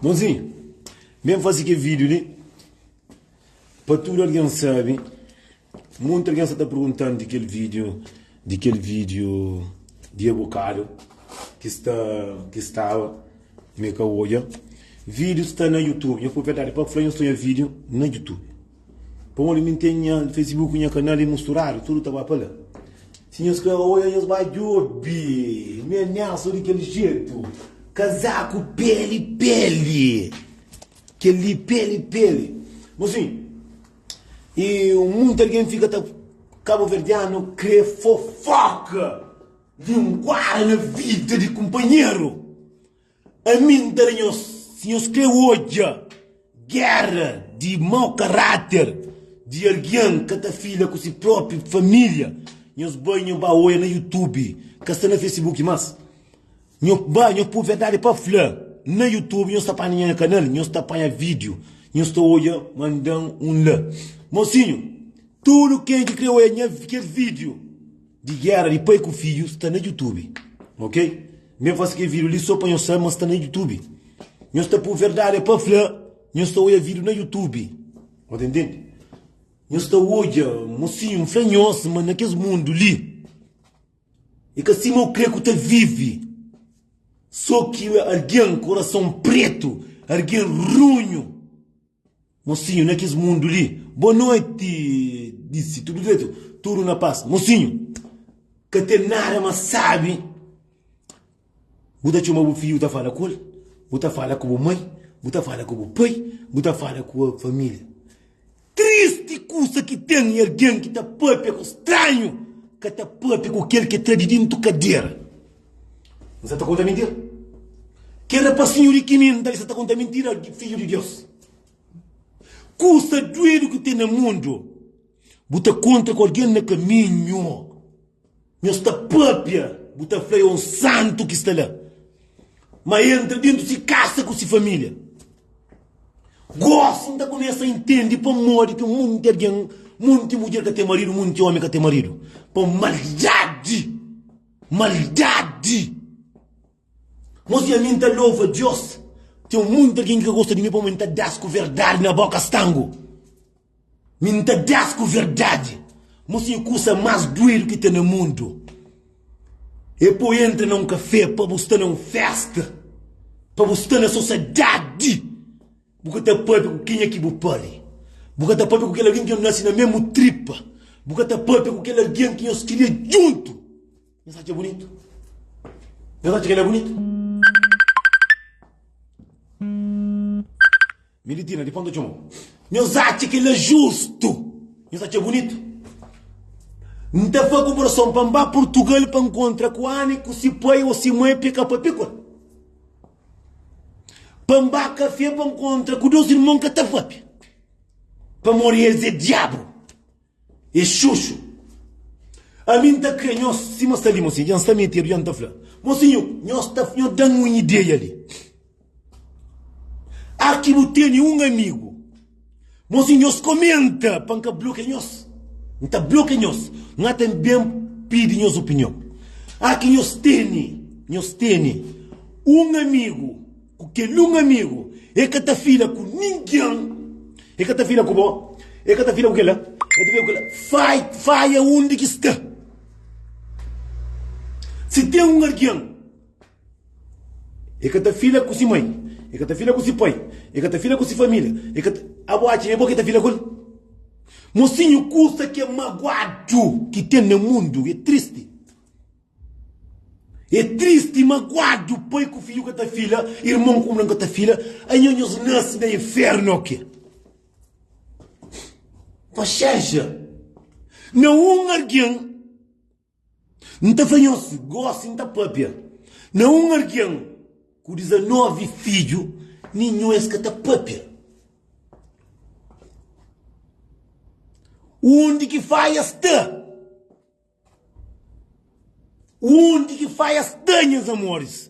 Bonzinho, ben fazi ke vídeo li pa tudu algen sabe. Monti algen sa ta perguntanu di kel vídeo, di kel vídeo di e bokadu ki sta, ki staba mi ka odja. Vídeo sta na Youtube, nha propriedade, pa fla nha sta odja vídeo na Youtube. Pamodi mi ten nha Facebook, nha kanal é musturadu, tudu ta ba pa la. Si nhos ka oia, nhos ba djobe. Mi ameaso di kel jetu. Kazaku peli peli. Kel-li peli peli. Bom, sim. E munti algen fika ta kabuverdianu kre fofoka. Linguada na vida di kunpanheru. Ami N ta da nhos, si nhos krê odja géra di mau karáter di algen ka ta fila ku se própi família, nhos bai nho ba oia na youtube, ka sta na facebook más, nho ba nho pur verdadi pa fla na youtube nhos ta panha nha kanal nhos ta panha vídiu nhos ta odja mandan un la mosinhu tudu ken ki krê oia nha kel vídiu. Di guera di pai ku fidju sta na youtube ok mi ben fase kel video li so pa nhos sabe ma sta na youtube nhos ta pur verdade é pa fla nhos ta odja video na youtube nhos ta intende nhos ta odja mocinho um fla nhos ma na kes mundo li é ka sima ukre ku ta vive so ki algin koração preto algin runho. Mosinhu na kes mundu li. Boa noite disi tudo direito tudo na paz mosinhu ka tem nada ma sabe bu ta txoma bu filho ta fala ku el bu ta fala ku bu mãe bu ta fala ku bu pai bu ta fala ku a familia triste kusa ki tem e alguém ki ta papia ku stranho ka ta papia ku kel ke ta di dintu cadeira. N sa ta konta mintira. Kel rapasinhu rikininda li sa ta konta mintira di Fidju di Deus. Kusa duedu ki ten na mundu, bu ta kontra ku algen na kaminhu, nhos ta pâpia, bu ta fla é un santu ki sta la. Má el nta dentu si kasa ku si família. Gósi N ta kumesa intende pamodi ki monti algen, monti mudjer ka ten maridu, monti ómi ka ten maridu. Pa maldadi! Maldadi! Mos i ami N ta lova Diós Ten munti algen ki ka gosta di mi Pamodi N ta da-s ku verdadi na bóka Stangu mi N ta da-s ku verdadi Mos i kusa más duedu ki ten na mundu E po entra na un kafé Pa bu sta na un fésta Pa bu sta na sosiedadi Bu ka ta pâpia ku kenha ki bu pari. Bu ka ta pâpia ku kel algen ki nhos nase na mésmu tripa. Bu ka ta pâpia ku kel algen ki nhos kria djuntu. Nhos atxa bunitu? Nhos atxa kel-la bunitu? Militina, di ponta txoma bo. Nhos atxa kel-la justu? Nhos atxa bunitu? N ta faze konparason pa N ba Purtugal pa N kontra ku Ana i ku si pai ô si mai peka pa pekol. Pa N ba kafé pa N kontra ku dôs irmon ka ta papia, pamodi es é diabru, é xuxu. Ami N ta krê nhos, sima sta li mosi, dja N sta metedu, dja N ta fla. Mosi nhu, nhos ta, nhos da-m un ideia li. Aki bu tene un amigu. Mon si nhos komenta pa N ka blokia nhos, N ta blokia nhos. N ata N ben pidi nhos opinion. A Ki nhos tene, nhos tene un amigu, ku kel un amigu e ka ta fila ku ningen, e ka ta fila ku bo, e ka ta fila ku kel la, e ka ta fila ku kel la. Fai, faia undi ki sta. Si ten un algen E ka ta fila ku si mai, e ka ta fila ku si pai, e ka ta fila ku si familia, e ka ta. Abo atxa e bo ki ta fila ku el? Mosinhu, kusa ki é maguadu ki ten na mundu é tristi. É tristi i maguadu pai ku fidju ka ta fila, irmon ku irman ka ta fila. Anho nhos nase na infernu ô ke? Paxénxa! Na un algen. N ta fla nhos, gósi N ta pâpia. Na un algen ku dizanóvi fidju, ninhun es ka ta pâpia. Undi ki faia sta? Undi ki faia sta, nhas amóris?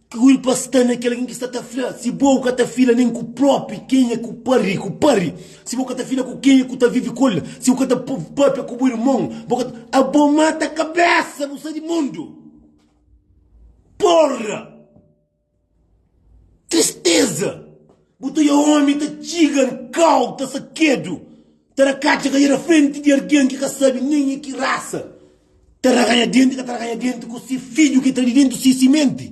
Ki kulpa sta na kel algen ki sta ta fla, Si bo ka ta fila nen ku propi, kenha ku pa ri ku pa ri? Si bo ka ta fila ku kenha ku ta vivi ku el? Si bu ka ta pâpia ku bu irmon, bo ka ta. Abo mata kabésa, bu sta di mundu! Pórra! Tristéza! Bu ta oiá ómi ta txiga nkau ta sakedu. Ta ra katxa ka ira frenti di argen ki ka sabi nen i ki rasa. Ta ra ganha denti ka ta ra ganha denti ku si fidju ki ta di dentu si simenti.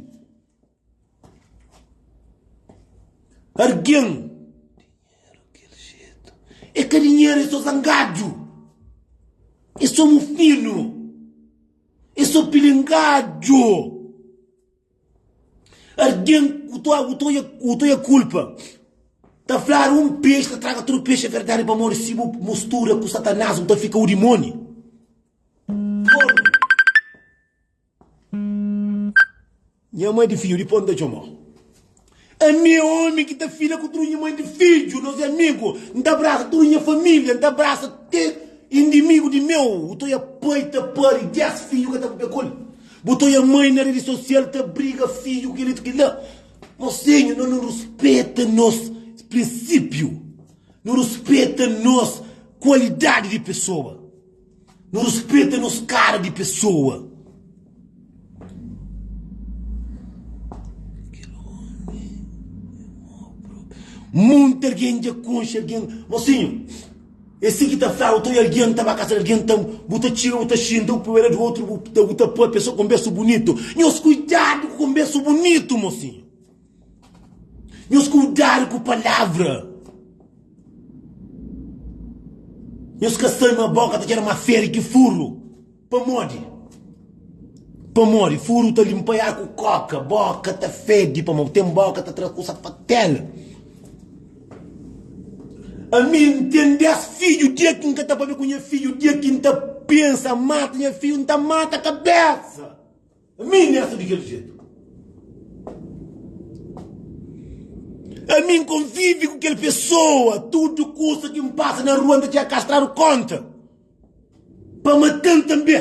Argen e ka dinheru e so zangadju e so mufinu e so pilingadju. Arden u to u to u to ya kulpa. Ta flar un pes ta traga tudo pes é verdade pa modi si bu mustura ku satanás bu ta fika u dimoni. Pornu. Nha mãe di fidju di pó n ta txomó. Ami é ómi ki ta fila ku tudu nha mai di fidju, nos é amigu. N ta abrasa tudu nha família, N ta abrasa te indimigu di meu. Bu ta oia pai ta pâdi dés fidju ka ta papia ku el. Bu ta oia mai na redi sosial ta briga fidju ku kel-li tu kel-la. Mosinhu, nos nu ruspeta nos prinsípiu. Nu ruspeta nos kualidadi di pesoa. Nu rispeta nos kara di pesoa. Monti algen dja konxe algen mosinhu es si ki ta fla u ta oi algen ta ba kas algen ta bu ta txiga bu ta xinta un puera di otu bu ta poi pesoa konbersa bunitu nhos kuidadu ku konbersa bunitu mosinhu. Nhos kudadu ku palavra. Nhos ka sai ma boka ta txera ma feri ki furu. Pamodi? Pamodi furu ta linpa-i ar ku koka. Boka ta fedi pamo ten boka ta tra kusa fatel. Ami N ten dés fidju, dia ki N ka ta pâpia ku nha fidju, dia ki N ta pensa mata nha fidju, N ta mata kabésa. Ami N esta di kel jetu. Ami N konvivi ku kel pesoa. Tudu kusa ki N pasa na rua N ta txiga kastradu konta pa mata-m tanbe.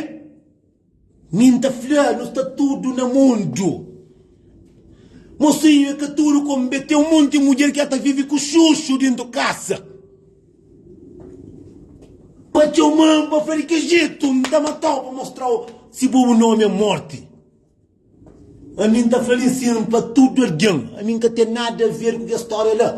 Mi N ta fla, nu sta tudu na mundu. Mosinhu é ka tudu, komu be ten un monti mudjer ki el ta vivi ku xuxu dentu kasa. Pa txoman pa fla di ke jetu N ta matau pa mostrau Si bo bu nomi é morti Ami N ta fla li sin pa tudu algen Ami N ka ten nada ver ku kes stória la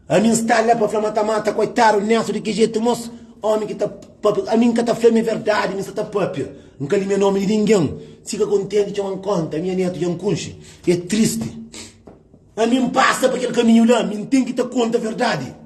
Ami N sta la pa fla ma ta mata Koitadu Nélson di ke jetu mos ómi ki ta pâpia Ami N ka ta fla mi é verdadi mi sta ta pâpia N ka limia nomi di ningen Si ka kontenti txoma N konta Minha nétu dja N kunxe É tristi Ami N pasa pa kel kaminhu la Mi N ten ki ta konta verdadi.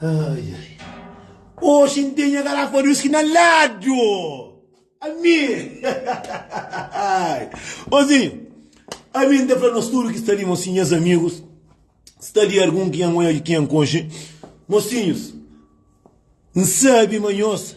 Ai, ai. Oxi n ten nha garafa di uski na ladu. Ami. Ozinho, ami n ta fla nos tudu ki sta li, mosinhos, nhas amigus, sta li algun ki nhas oja ki nhas konxe. Mosinhos, n sabe ma nhos.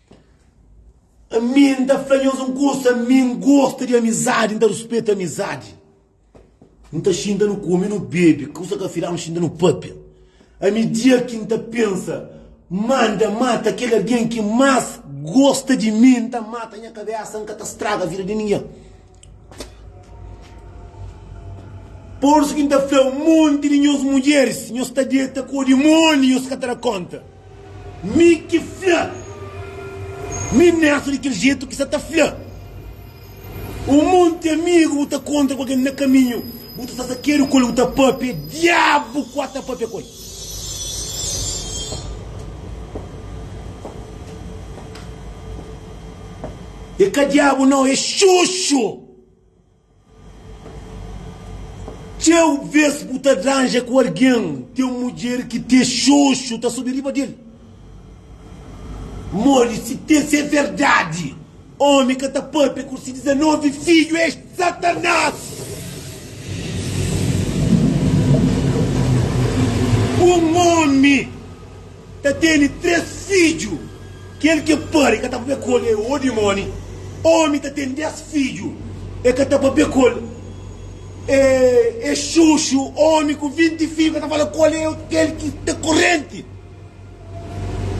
Ami N ta fla nhos un kusa, ami N gosta di amizadi, N ta ruspeta amizadi. N ta xinta nu kume, nu bebe, kusa ki afiladu nu xinta nu pâpia. Ami dia ki N ta pensa ma N ta mata kel algen ki más gosta di mi, N ta mata nha kabésa, N ka ta straga vida di ningen. Pursu ki N ta fla-u, monti di nhos mudjeris, nhos ta deta ku dimóni, nhos ka ta da kónta. Mi ki fla, mi mésmu di kel jetu ki sa ta fla. Un monti amigu bu ta kontra ku algen na kaminhu, bu ta sta sakedu ku el, bu ta pâpia, diabu ku ata pâpia ku el. E ka diabu nau e xuxu. Txeu ves bu ta dranja ku algen ten mudjer ki te xuxu ta subi riba del modi si te se verdadi. Omi ka ta papia ku si dizenovi fidju es Satanas. Un omi ta tene tres fidju, kel ki e pari ka ta papia ku el e o dimoni. Omi ta tene des fidju, e ka ta papia ku el e e xuxu. Omi ku vinti fidju ka ta fala ku el e kel ki ta korenti.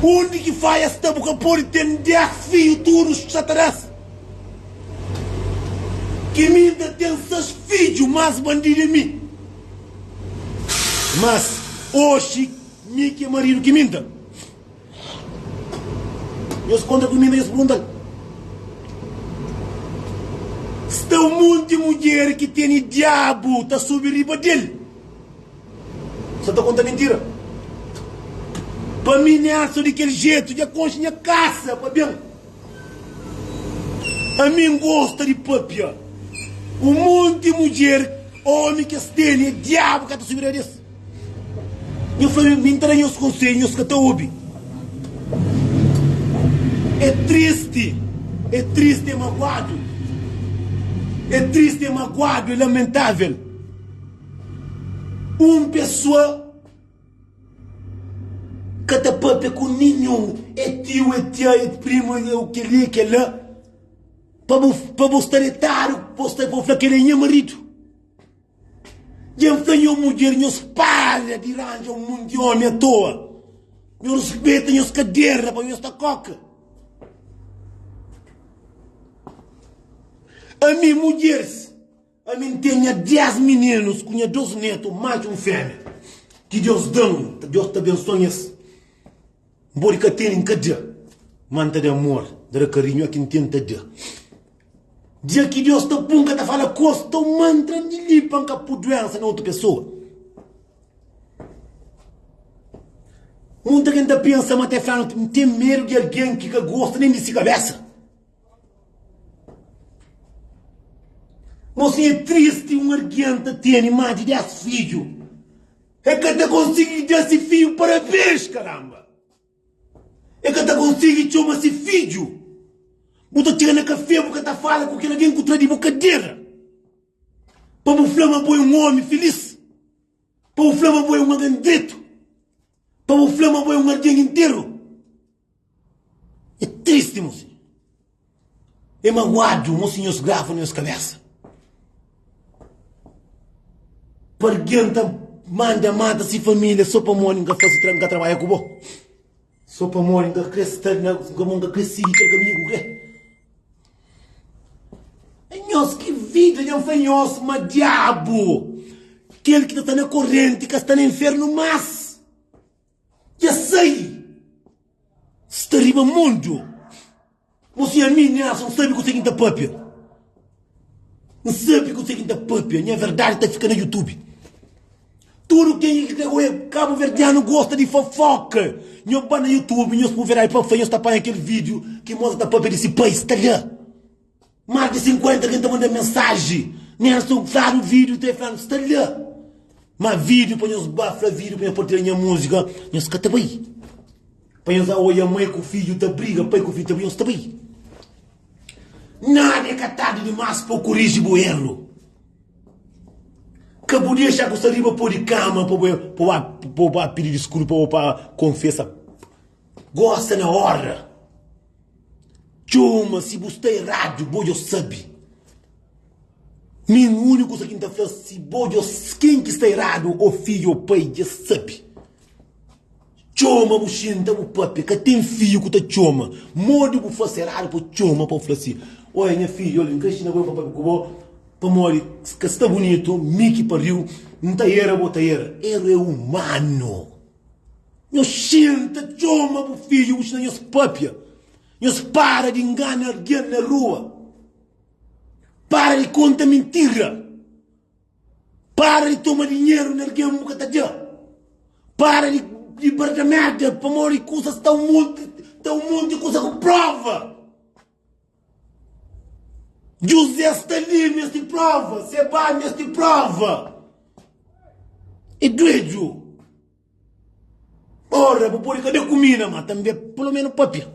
Undi ki faia sta bu ka podi ten dés fidju tudu xatarés ki mi N ta ten ses fidju más bandidu é mi mas oxi mi ki é maridu ki mi N ta nhos kontra ku mi N ta nhos perguntal sta un monti mudjer ki tene diabu ta subi riba del. Sa ta konta mintira. Pa mi nessa di kel jeito dja konxe nha casa pa bem. A mi N gosta di papia. O monte mudjer, homem que es teni é diabo ka ta subida des. Nha fla mi N ta da nhos conselho nhos ka ta obi. É triste, é triste, é magoado. É triste, é magoado, é lamentável. Un pessoa ka ta papia ku ninhun e tiu e tia e primu e o keli e kela pa bu pa bu sta detadu bo sta bo fla keli e nha maridu dja fla nho mudjer nhos para di ranja un monti di omi atoa nho rispita nhos kadera pa nhos sta koka ami mudjers Ami N ten nha dés mininus ku nha dôs nétu, matxu un fémia, ki Deus da-m. Deus ta abensua-m es. N pode ka tene, N ka da, má N ta da amor, N ta da karinhu. Oki N tenta da, dia ki Deus ta pô-m, N ka ta fala kos, ta mantra-m di li pa N ka pô duénsa na otu pesoa. Monti algen ta pensa ma ta fla-m, N ten medu di algen ki ka gosta nen di si kabésa. Nau sim é tristi um alguém ta teni má di 10 fidju e ka ta konsigi da si fidju parabens karamba e ka ta konsigi txoma si fidju bu ta txega na kafé bu ka ta fala ku kel alguém ku tra di bu kadera pa bu fla ma bo é um omi filís pa bu fla ma bo é um alguém dretu. Pa bu fla ma bo é un algen interu é tristi mo sinhor. É maguadu mo sinhor sgrava nhos kabésa. Pa algen ta manda mata si família so pamodi N ka fase tra N ka trabadja ku bo, so pamodi N ka kre sta na N ka N ka kre sigi kel kaminhu ku bu kre. Nhos ki vida dja fai nhos ma diabu kel ki ta sta na korenti ka sta na infernu mas dja sai sta riba mundu bos i ami nhas n sabi kuse ki n ta papia n sabi kuse ki n ta papia nha verdadi ta fika na youtube. Tudo quem é de Goiânia, Cabo Verdeano gosta de fofoca. Nho ba na YouTube, nho spuver aí pafé, nho sta panha aquele vídeo que mostra ta papia desse país, tá lá. Mais de 50 quem tá mandando mensagem, nem a sou claro vídeo, tem falando, está lá. Mas vídeo para nós ba, fala vídeo para nós partilhar minha música, nós cá tá bem. Para nós olha mãe com filho tá briga, pai com filho tá briga, nós tá bem. Nada é catado demais para corrigir boelo. Ka bu dexa ku saliva pode kama pa bu ba pidi diskulpa ô pa konfesa. Gosta na óra. Txoma si bu sta eradu, bo dja sabe. Nen un úniku kuza ki N ta fla, si bo dja. Ken ki sta eradu, ô fidju ô pai, dja sabe. Txoma bu xinta bu papia ka ten fidju ku ta txoma modi bu fase eradu pa txoma pa bu fla si oia nha fidju ol n krexe na bo e fla pape ku bo pamodi ka sta bunitu mi ki pariu n ta era bo ta era eru e umanu nho xinta txoma bu fidju bu xina nhos papia nhos para di ngana algen na rua para di konta mintira. Para di toma dinheru di algen bu ka ta dja. Para di di barda merda pamodi kusas ta un monti ta un monti kusa ku prova. José sta li mi es ti prova, Seba mi es ti prova. E dueju. Ora, bu pode ka ben ku mina, ma tanbe pulomenu papia.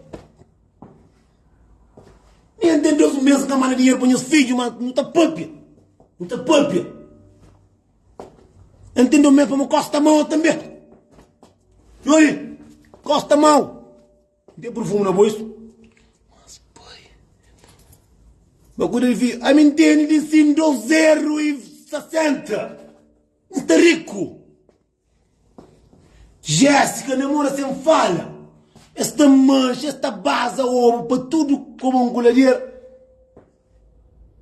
Nha ten dos mês ka manda dinheru pa nhas fidju, ma nu ta papia, nu ta papia. Nha ten dos mês pa bu kosta mau tanbe. Yoi, kosta mau. N ten purfumu na boisu. Mas pai, ba kuda di fidju, ami n tene di sin dos zeru i sasenta. N sta riku. Jéssica namora sem fala Es ta manxa, es ta baza omu pa tudu komu angulader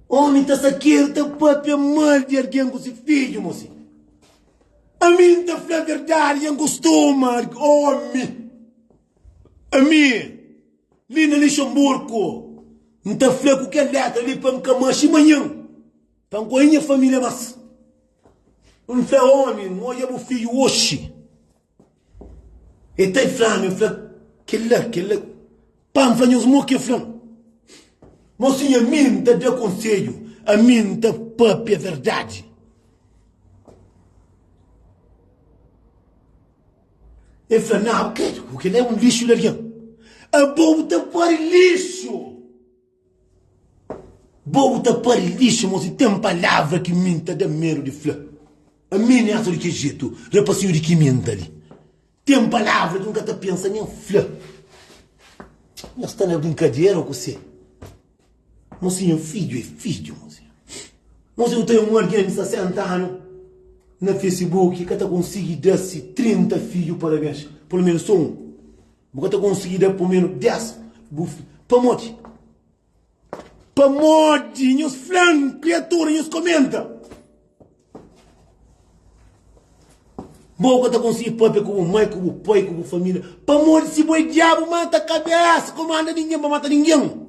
Omi ta sakedu, ta papia mal di algen ku si fidju mo si Ami N ta fla verdadi dja N kustuma di omi Ami li na Lixamburku N ta fla ku kel letra li pa N ka manxi manhan Pa N kóje nha família bas. N fla ómi, N odja bu fidju oxi. El ta e fla-m, el fla, Kel-la, kel-la. Pa N fla nhos mo ki el fla-m. Mo si ami N ta da konsedju, ami N ta pâpia verdadi. El fla, Nau, krédu, kel-la é un lixu di algen. Abo bu ta pode lixu! Bo bu ta pari lixa mo si ten palavra ki mi nta da medu di fla ami ne asa di ke jetu rapasiu di ki mi nta li ten palavra ki nka ta pensa nen fla nha sta na brinkadera o kuse mo si nha fidju e fidju mo si mo si bu ten un algen di 60 anu na fesibuki ka ta konsigi da si 30 fidju parabens pulu menus so un. Bu ka ta konsigi da pumenu dés bufi. Pamodi? Pamodi nhos fla-m kriatura, nhos komenta. Bo ka ta konsigi pâpia ku bu mai, ku bu pai, ku bu família. Pamodi si bo é diabu mau, ta ka bés komanda ningen pa mata ningen.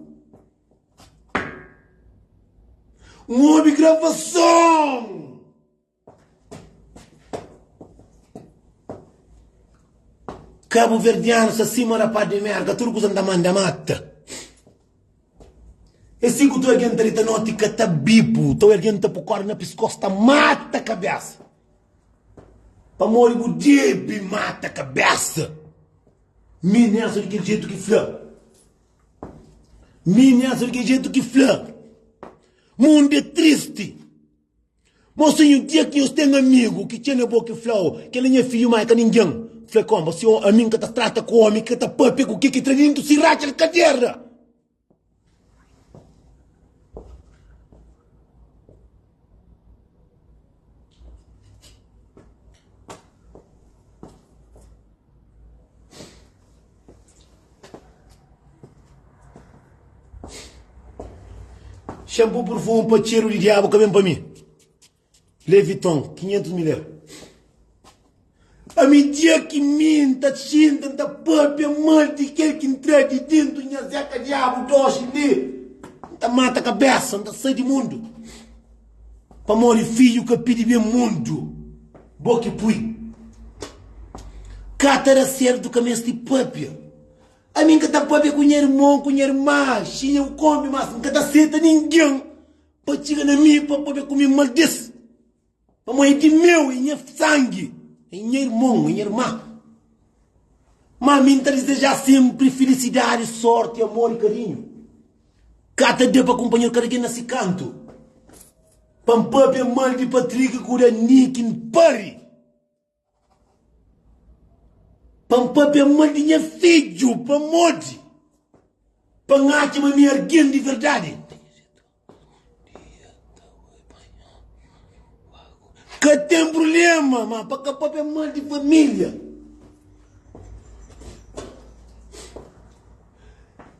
N obi gravason. Cabo verdiano sa sima rapaz de merda tudo coisa nta manda mata é si cu tu alguém nta dita noti ka ta bibu teu alguém nta pu corda na piscoço ta mata cabeça pamodi bu debe mata cabeça mi nessa de kel jeito ki fla mi nessa de kel jeito ki fla mundo é triste. Mas ten un dia ki nhos ten amigu ki txena bo ki fla-u, Kel-la é nha fidju, má el ka ningen. Fla-l kónba, Si ami N ka ta trata ku ómi ki ka ta pâpia ku kel ki tra déntu si ratxa di kaverna. Shampoo perfume pa cheiro di diabo ka ben pa mi. Leviton, 500 mil euro. A mi dia ki mi ta xinta, ta papia mal di kel ki ntra di dentro nha zeca diabo doxi li. Ta mata cabeça, ta sai di mundo. Pamodi fidju ka pidi ben mundu, bo ki pui. Ka ta da serdu ka mesti pâpia. Ami N ka ta pâpia ku nha irmon, ku nha irma, xinha ô kónbi, mas N ka ta seta ningen pa txiga na mi pa pâpia ku mi maldis, pamô é di meu, é nha sangi, é nha irmon, é nha irma. Má ami N ta dizeja sénpri filisidadi, sórti, amor i karinhu Ka ta da pa kunpanheru kada ken na si kantu Pa N pâpia mal di Patrick ku da Nick N pari Pa N pâpia mal di nha fidju pamodi Pa N atxa ma mi é algen di verdadi Ka ten prubléma ma pa ka pâpia mal di família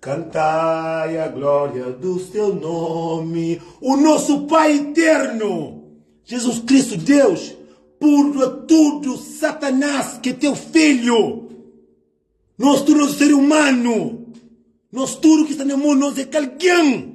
Cantai a glória dos teu nome, o nosso Pai eterno, Jesus Cristo Deus, púrdua tudo Satanás que teu filho, nós tudo nós ser humano, nós tudo que está na mundo nós é kalgin.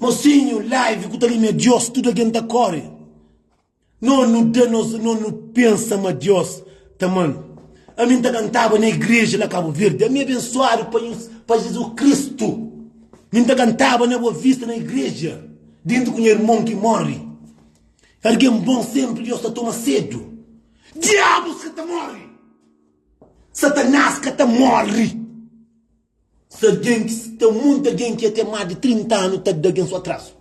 Mosinhu live ku ta limia Dios tudu algen ta kori no nu da nos no nu pensa ma Dios ta amanu ami nta kantaba na igreja la cabo verde ami abensuadu pa nhos pa Jesus Cristo mi nta kantaba na boa vista na igreja dintu ku nha irmon ki mori algen bon sempri Dios ta toma sedu diabos ka ta mori satanas ka ta mori Si algen ki sta monta algen ki até más di 30 anu ta da algen so atrazu,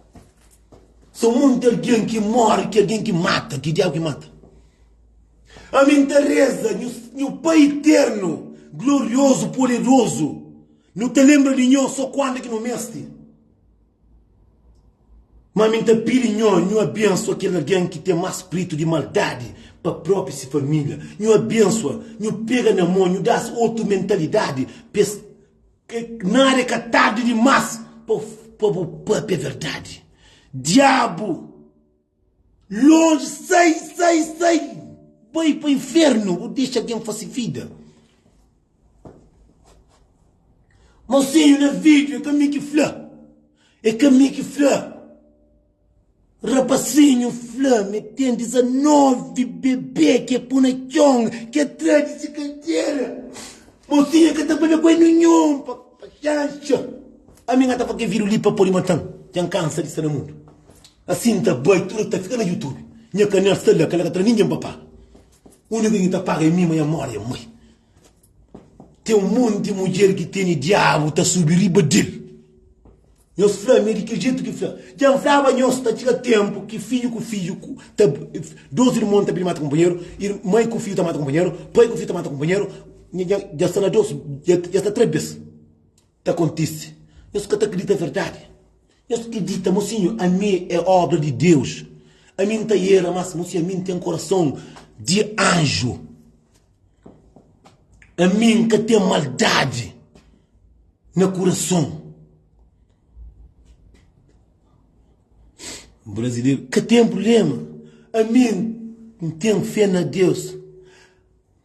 sa monta algen ki mori ki algen ki mata ki diabu ki mata. Ami nta reza nhu Pai Eternu, Gloriozu, Poderozu, nhu ta lenbra di nho so kuandu ki nhu mesti. Má mi N ta pidi nho, nho abênsua kel algen ki ten más spritu di maldadi pa própi se família. Nho abênsua, nho pega na mô, nho da-s otu mentalidadi pa es. Nada é ka tardi dimás pa bu pâpia verdadi. Diabu! Longe sai sai sai Bai pa inferno bu dexa gen fase vida Mau seiu na video e ka mi ki fla E ka mi ki fla Rapasinhu fla mi ten 19 bebê ki e pu na txon ki e tra di si katera Mau seiu e ka ta bale kué ninhun pa xanxa Ami nga ta pa ke viru li pa podi matan Djan kansa di sta na mundu. Asin N ta bai, tudu ki ta fika na Youtube nha kanel sta la, kel la ka tra ningen pa paga. Uniku ki ta paga é mi, ma nha modi nha mai. Ten un monti mudjer ki tene diabu ta subi riba del. Nhos fla mi é di kel jetu ki fla. Dja N flaba nhos ta txiga tenpu ki fidju ku fidju ta dos irmon ta ben mata kunpanheru, mai ku fidju ta mata kunpanheru, pai ku fidju ta mata kunpanheru, nha dja sta na dos, dja sta tres bes. ta kontise. Nhos ka ta kridita verdadi? Nhos kridita ma si nhu ami é óbra di Deus, ami N ta era más, ma si ami N ten korason di anju, ami N ka ten maldadi na kurason. Brazileru ka ten prubléma, ami N ten fé na Deus.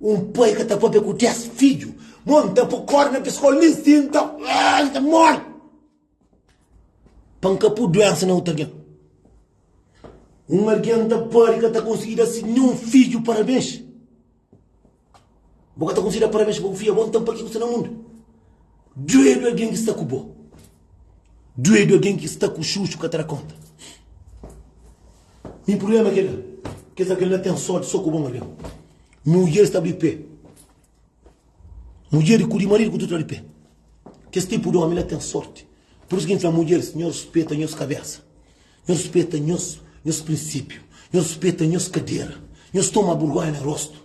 Un pai ka ta pâpia ku dés fidju, má N ta pô kórda na piskó-l, nen si N ta móre pa N ka pô duénsa na otu algen. Un algen ta pode ka ta konsigi da se ninhun fidju parabens. Bo ka ta konsigi da parabens pa bu fidju, abó nton paki ki bu sta na mundu? Djobe algen ki sta ku bo. Duedu alguém que está com chuchu ka ta da conta. Mi problema é kela, kes alguém lá tem sorte só com bom alguém. Mulher está de pé, mulher com o marido com tudo está de pé. Kes tipo de homem lá tem sorte. Por isso que a gente fala mulheres, nho respeita nhos cabeça, nho respeita nhos, nhos princípio, nho respeita nhos cadeira, nhos toma burgonha na rosto.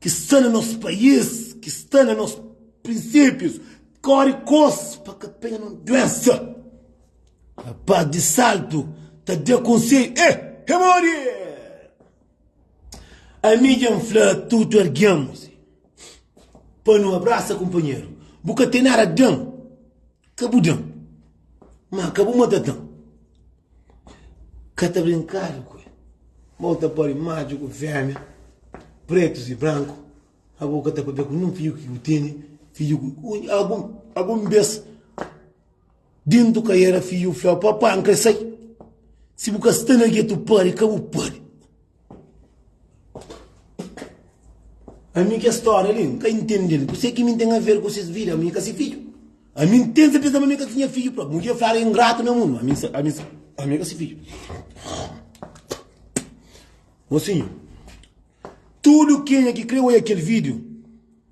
Ki sta na nos país, ki sta na nos prinsípius, kóre kos pa ka penha nos duénsa. Rapás di saltu ta da konsedju, Ê! Ê móre! Ami dja N fla tutu algen pa nu abrasa kunpanheru, bu ka ten nada di da-m. Ka bu da-m, má ka bu manda da-m. Ka ta brinkadu ku el, ma bu ta pode maju ku fémia, prétus i branku. Agu ka ta pâpia ku nin fidju ki bu tene, fidju ku un. Agu, algun bes, dentu ka éra fidju fla-u, Papá, N krê sai. Si bu ka sta na getu pâdi, ka bu pâdi. Ami kes stória li n ka intende-l. Kuzê ki mi ten aver ku ses vida? Mi ka se fidju. Ami n tenta pensa ma mi ka ta tinha fidju própi. Un dia flaga ingratu na mundu. Ami sa, ami sa, ami ka se fidju. Mosinhu, tudu kenha ki krê odja kel vídiu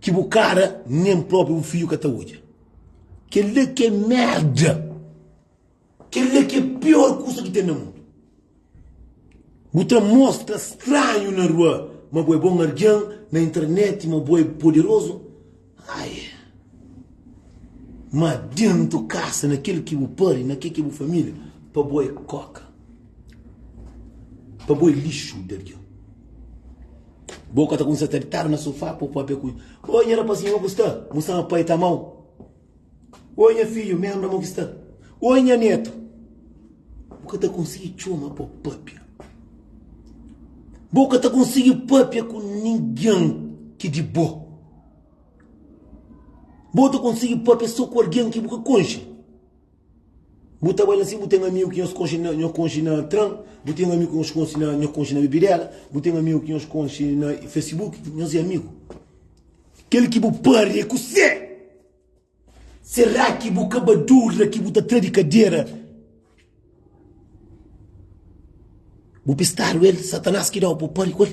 Ki bu kara nen propi bu fidju ka ta odja. Kel la ki é merda. Kel la ki é pior kusa ki ten na mundu. Bu ta mostra stranhu na rua ma bu é bon algen, na internet ma bu é poderozu. Ai. Ma dentu kasa, na kel ki bu pari, na kel ki é bu família, pa bu é koka. Pa bu é lixu di algen. Boka ta kumesa ta ditadu na sofá, pô pâpia ku. Oi, nha rapazinhu, ô ku sta? Musama pai ta amau. Oi, nha fidju, mé ambra mo ki sta. Oi, nha netu. Bu ka ta konsigi txoma pô pâpia. Bo ka ta konsigi pâpia ku ningen ki di bo. Bo ta konsigi pâpia sô ku algen ki bu ka konxe. Bu ta bai la si bu ten amigu ki nhos konxe na nhos konxe na tran, bu ten amigu ki nhos konxe na nhos konxe na bebidela, bu ten amigu ki nhos konxe na Facebook, nhos é amigu. Kel ki bu pârdre ku se. Será ki bu ka ba dúvida ki bu ta tra di kadera? Bu pistadu el, Satanás ki da-u pa bu pârdre ku el?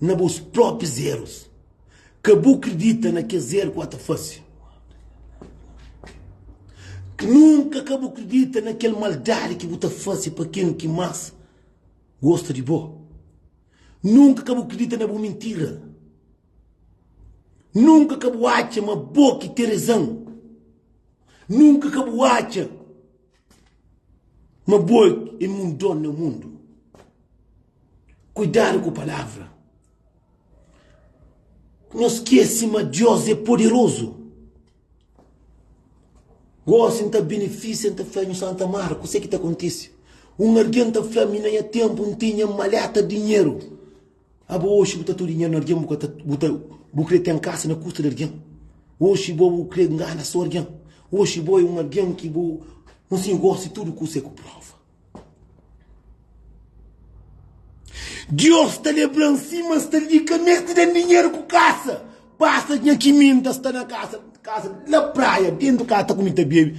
na bos própis erus. Ka bu kridita na kes eru ku ata fase. Nunka ka bu kridita na kel maldadi ki bu ta fase pa ken ki más gosta di bo. Nunka ka bu kridita na bu mintira. Nunka ka bu atxa ma bo ki ten rezon. Nunka ka bu atxa Ma bo é mundon na mundu. Kuidadu ku palavra. No skese ma Deus é poderozu. Gosi N ta benefisia, N ta fla nhos Santa Mara kuse ki ta kontise. Un algen ta fla-m, i na nha ténpu N tinha un maléta dinheru. Abo oxi bu ta tudu dinheru na argen bu ka ta bu ta bu kre ten kasa na kusta di argen oxi bo bu kre ngana so argen oxi bo e un argen ki bu un sin gosi tudu kusa e ku prova Dios ta lebran si ma sta li ka mesti den dinheru ku kasa pasa nha ki mi nta sta na kasa kasa la praia dentu kasa ta kumi ta bebi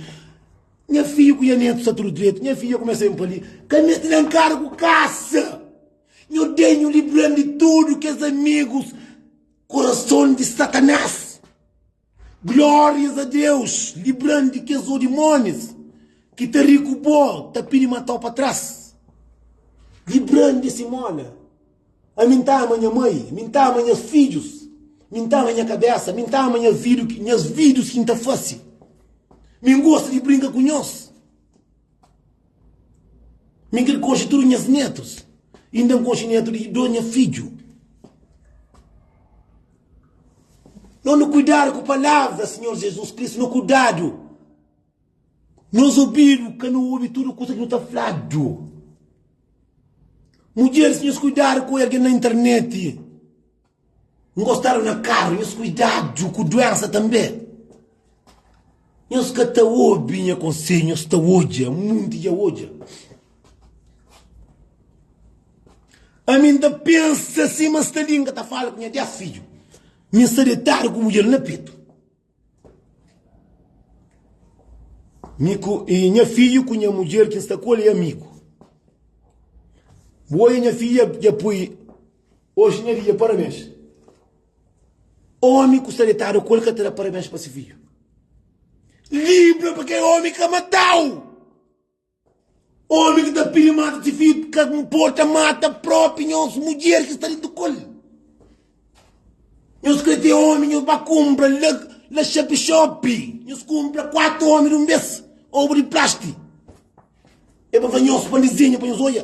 nha fiju ku nha netu sta tudu dretu nha fiju kumesa ben pa li ka mesti den karu ku kasa. Nho Dei nho libra-m di tudu kes amigus kurason di satanás glorias a Deus libra-m di kes odimonis ki ta ri ku bo ta pidi matau pa tras libra-m di esi moda ami nta ama nha mai ami nta ama nhas fidjus ami nta ama nha kabesa ami nta ama nhas vidius ki nta fasi ami gosta di brinka ku nhos Mi kel konxe tudu nhas netus, inda N konxe netu di dô nha fidju. Nhos nu kuidadu ku palavra Sinhor Jesus Kristu, nu kuidadu. Nhos obidu ka nu obi tudu kusa ki nu ta fladu. Mudjeris nhos kuidadu ku algen na interneti. Ngostadu na karu, nhos kuidadu ku duensa tanbe. Nhos ka ta obi nha konsedju, nhos ta odja, munti dja odja. Ami N ta pensa sima Stalin, N ka ta fala ku nha dés fidju, mi N sta detadu ku mudjer na petu. Miku, e nha fidju ku nha mudjer ki N sta ku el é amigu. Bu odja nha fidja dja poi oxi nha fidja parabens. Omi ku sta detadu ku el ka ta da parabens pa si fidju. Libra pa kel omi ka matau. Omi ki ta pili mata si fidju ka nporta mata propi nhos mudjer ki sta di ntu kol. Nhos kre ten omi nhos ba kunpra la xapi-xopi nhos kunpra kuatu omi di un bes obu di plasti e ba fla nhos pandi zinha pa nhos oja.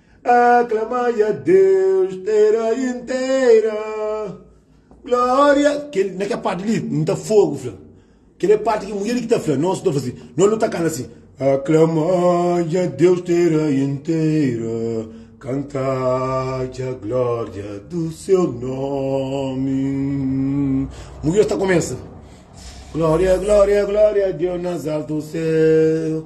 Aklamai a Deus, tera intera, gloria. Kel, na kel parte li, n ta fogo fla. Kel é parte ki mulher li ki ta fla, nos nu ta fla si, nos nu ta kanta si, Aklamai a Deus, tera intera, kantai a gloria du seu nomi. Mulher ta kumesa, Gloria, gloria, gloria a Deus nas altu seu,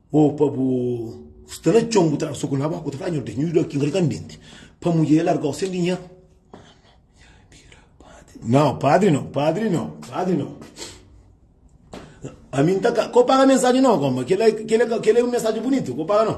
Ô pa bu sta na txon, bu tra-l so ku un abóka, bu ta fla, Nhordes, nhu da ki un rikandenti pa mudjer larga-u sen dinheru. Nau, padri nau, padri nau, padri nau. Ami N ta ka, ka bu paga mensajen nau, koma, kel-la, kel-la, kel-la é un mensajen bunitu, ka bu paga nau.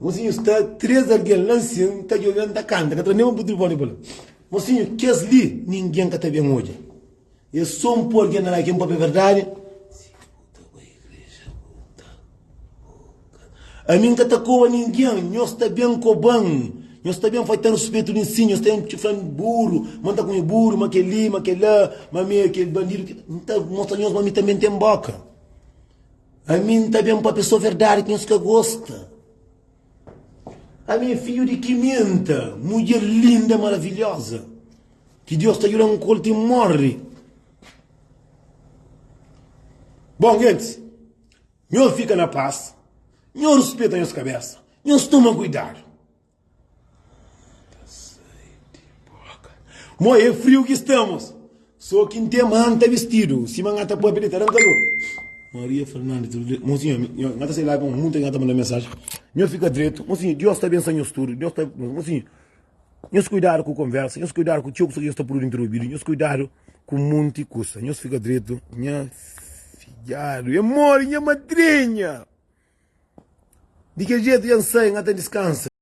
Mosinhu sta três alguém lá nsin ta djobe n ta canta ka tra nem un butil pó ni bala mosinhu kes li ninguém ka ta bem odja ê só n pô alguém na lá ki n pâpia é verdade ami n ka ta koba ninguém nhos ta bem koba n nhos ta bem faitan ruspetu di nsin nhos ta bem txufla n buru ma n ta kume buru ma kel li ma kel la ma ami ê kel bandidu ki ta mostra nhos ma ami tanbe n tem boka. Ami N ta ben pa pesoa verdadi ki nhos ka gosta. Ami é fidju di Kimenta, mudjer linda, maravilhoza, ki Deus ta djuda-m ku el ti N morri. Bon, gentis, nhos fika na pas, nhos rispeta nhos kabésa, nhos toma kuidadu. Mo é friu ki stamos. Só ki n ten man ta bistidu sima nha ta papia di ta dan kalor. Maria Fernandes Rodrigues, Mo sinha, nha ta sai la un monti di nha ta manda mensagem. Nho fika dretu. Mo sinha, Dios ta bensa nhos tudu. Dios ta. Mo sinha, nhos kuidadu ku konversa, nhos kuidadu ku txeu kusa ki nhos ta prudu interubidu, nhos kuidadu ku monti kusa. Nhos fika dretu. Nha fidjadu e mori nha madrinha. Di kel jetu nha sai nha ta diskansa.